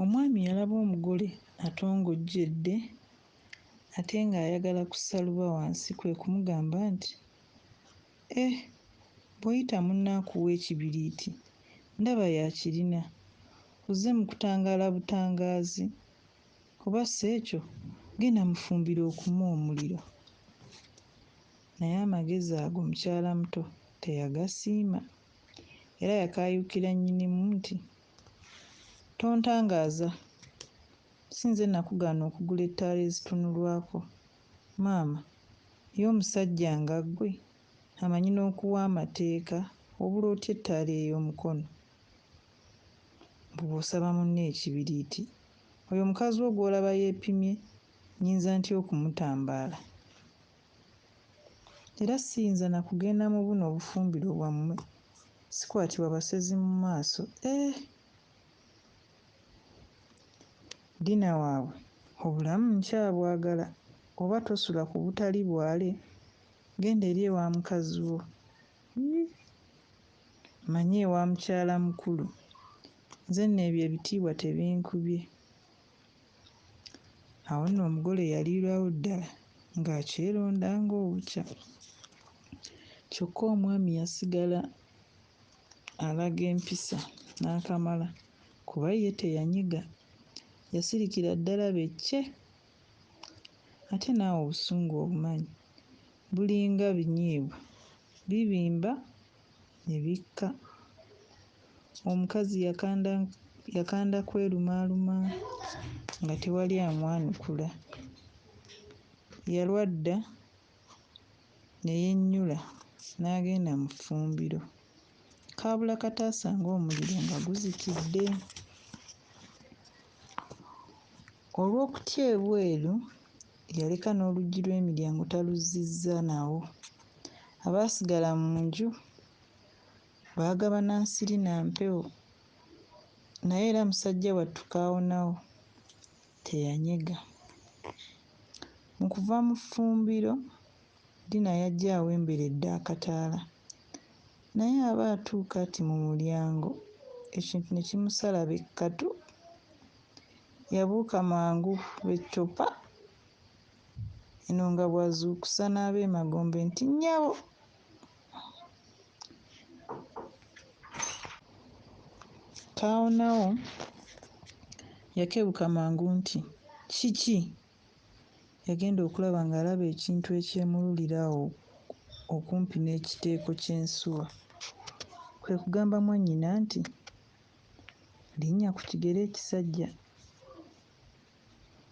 Omwami yalaba omugole atongojjedde ate ng'ayagala kussa luba wansi kwe kumugamba nti, Eh, bw'oyita munno akuwa ekibiriiti, ndaba y'akirina. Ozze mu kutangaala butangaazi, oba si ekyo genda mu ffumbiro okume omuliro. Naye amagezi ago mukyalamuto teyagasiima. Era yakaayuukira Nnyinimu nti, Tontangaaza! Si nze nakugaana okugula ettaala ezitunulwako, maama? Ye omusajja nga ggwe, amanyi n'okuwa amateeka, obula otya ettaala ey'omukono? Mbu bw'osaba munno ekibiriiti! Oyo mukazi wo gw'olaba yeepimye, nnyinza ntya okumutambaala? Era ssiyinza na kugenda mu buno obufumbiro bwammwe, sikwatibwa basezi mu maaso. Eeh! Dina waabwe, obulamu nkyabwagala, oba tosula ku butali bwale, genda eri ewa mukazi wo. Yii! Manya ewa mukyala mukulu. Nze nno ebyo ebitiibwa tebinkubye. Awo nno omugole yaliirawo ddala ng'akyeronda ng'obukya. Kyokka omwami yasigala alaga empisa n'akamala kuba ye teyanyiga, yasirikira ddala be ccee! Ate naawe obusungu obumanyi, bulinga binyeebwa, bibimba. ne bikka. Omukazi yakanda yakanda kwelumaaluma nga tewali amwanukula. Yalwa dda ne yennyula n'agenda mu ffumbiro. Kaabula kata asange omuliro nga guzikidde. Olw'okutya ebweru, Yaleka n'oluggi lw'emiryango taluzzizza nawo. Abaasigala mu nju baagabana nsiri na mpewo naye era musajja wattu Kaawonawo teyanyega. Mu kuva mu ffumbiro, Dina yajja awemberedde akataala naye aba atuuka ati mu mulyango ekintu ne kimusala be kkatu. Yabuuka mangu eccupa eno nga bw'azuukusa n'abeemagombe nti, Nnyabo! Kaawonawo yakebuka mangu nti, Kiki? Yagenda okulaba ng'alaba ekintu ekyemululira awo okumpi n'ekiteeko ky'ensuwa, kwe kugamba mwannyina nti. Linnya ku kigere ekisajja.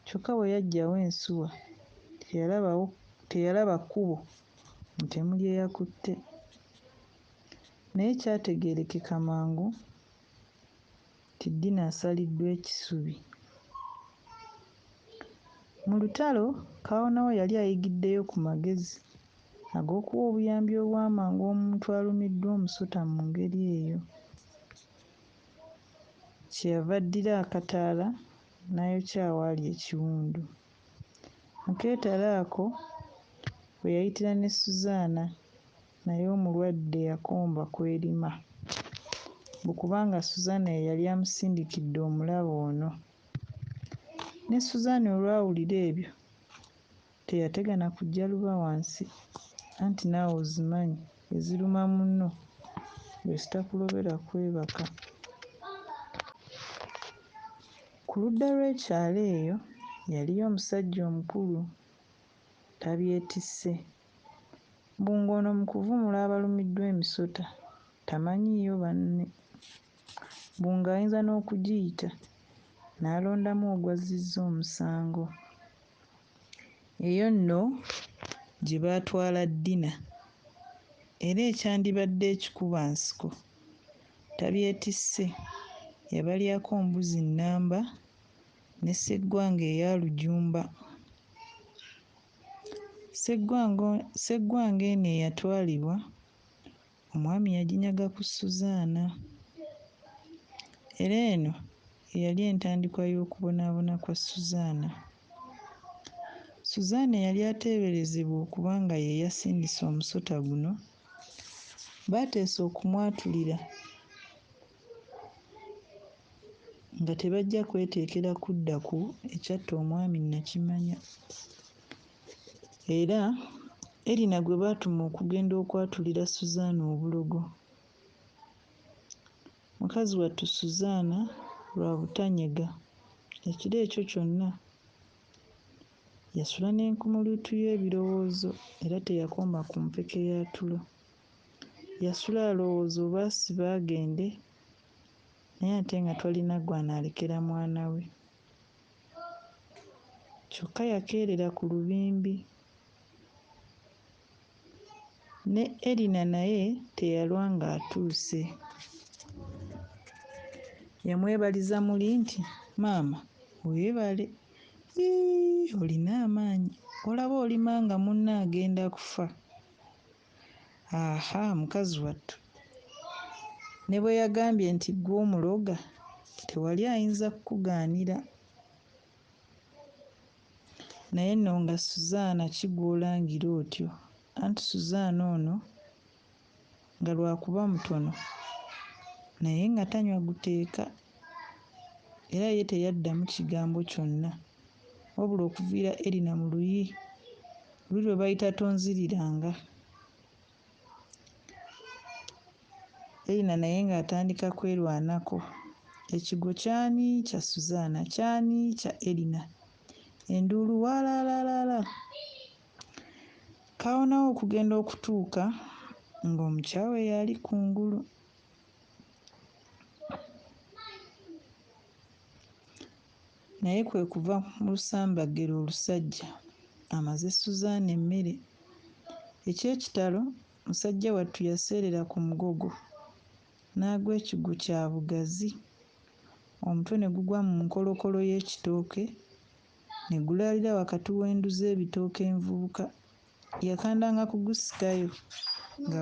Kyokka bwe yaggyawo ensuwa teyalabawo teyalaba kkubo mutemu lye yakutte naye kyategeerekeka mangu nti Dina asaliddwa ekisubi. Mu lutalo, Kaawonawo yali ayigiddeyo ku magezi ag'okuwa obuyambi obw'amangu omuntu alumiddwa omusota mu ngeri eyo. Kye yava addira akataala n'ayokya awaali ekiwundu. Mu keetalo ako we yayitira ne Suzaana, naye omulwadde eyakomba kw'erima. Mbu kubanga Suzaana ye yali amusindikidde omulabe ono. Ne Suzaana olwawulira ebyo, Teyategana kujja luba wansi anti naawe ozimanyi eziruma munno bwezitakulobera kwebaka. Ku ludda lw'ekyalo eyo yaliyo omusajja omukulu tabyetisse mbu ng'ono mu kuvumula abalumiddwa emisota tamanyiiyo banne mbu ng'ayinza n'okugiyita n'alondamu ogwazzizza omusango. Eyo nno gye baatwala Dina era ekyandibadde ekikubansiko tabyetisse, yabalyako mbuzi nnamba ne Sseggwanga eya Lujumba. Sseggwanga Sseggwanga eno eyatwalibwa Omwami yaginyaga ku Susaana, era eno ye yali entandikwa y'okubonaabona kwa Susaana. Susaana eyali ateeberezebwa okuba nga ye yasindise omusota guno, baateesa okumwatulira nga tebajja kweteekera kudda ku ekyatta omwami Nakimanya. Era Erina gwe baatuma okugenda okwatulira Suzaana obulogo. Mukazi wattu Suzaana lwa butanyega, ekiro ekyo kyonna yasula n'enkumuliutu y'ebirowoozo era teyakoma ku mpeke ya tulo. Yasula alowooza oba asibe agende naye ate nga twalina gw'anaalekera mwana we. kyokka yakeerera ku lubimbi. Ne Erina naye teyalwa ng'atuuse. Yamwebaliza muli nti, Maama, weebale. Yii, olina amaanyi! Olaba olima nga munno agenda kufa. Ahaa mukazi wattu ne bwe yagambye nti ggwe omuloga tewali ayinza kukugaanira. Naye nno nga Suzaana ki gw'olangira otyo? Anti Suzaana ono nga lwakuba mutono naye nga tanywa guteeka. Era ye teyaddamu kigambo kyonna. Wabula okuviira Erina mu luyi luli lwe bayita Tonziriranga, Erina naye ng'atandika kwerwanako. Ekigwo ky'ani? Kya Suzaana. Ky'ani? Kya Erina. Enduulu waalaalaalaalaa! Kaawonawo okugenda okutuuka ng'omukyawe y'ali ku ngulu. Naye kwe kuva mu lusambaggere olusajja amaze Suzan emmere. Eky'ekitalo, musajja wattu yaseerera ku mugogo n'agwa ekigwo kya bugazi, omutwe ne gugwa mu nkolokolo y'ekitooke ne gulaalira wakati w'endu z'ebitooke envubuka yakandanga kugusikayo nga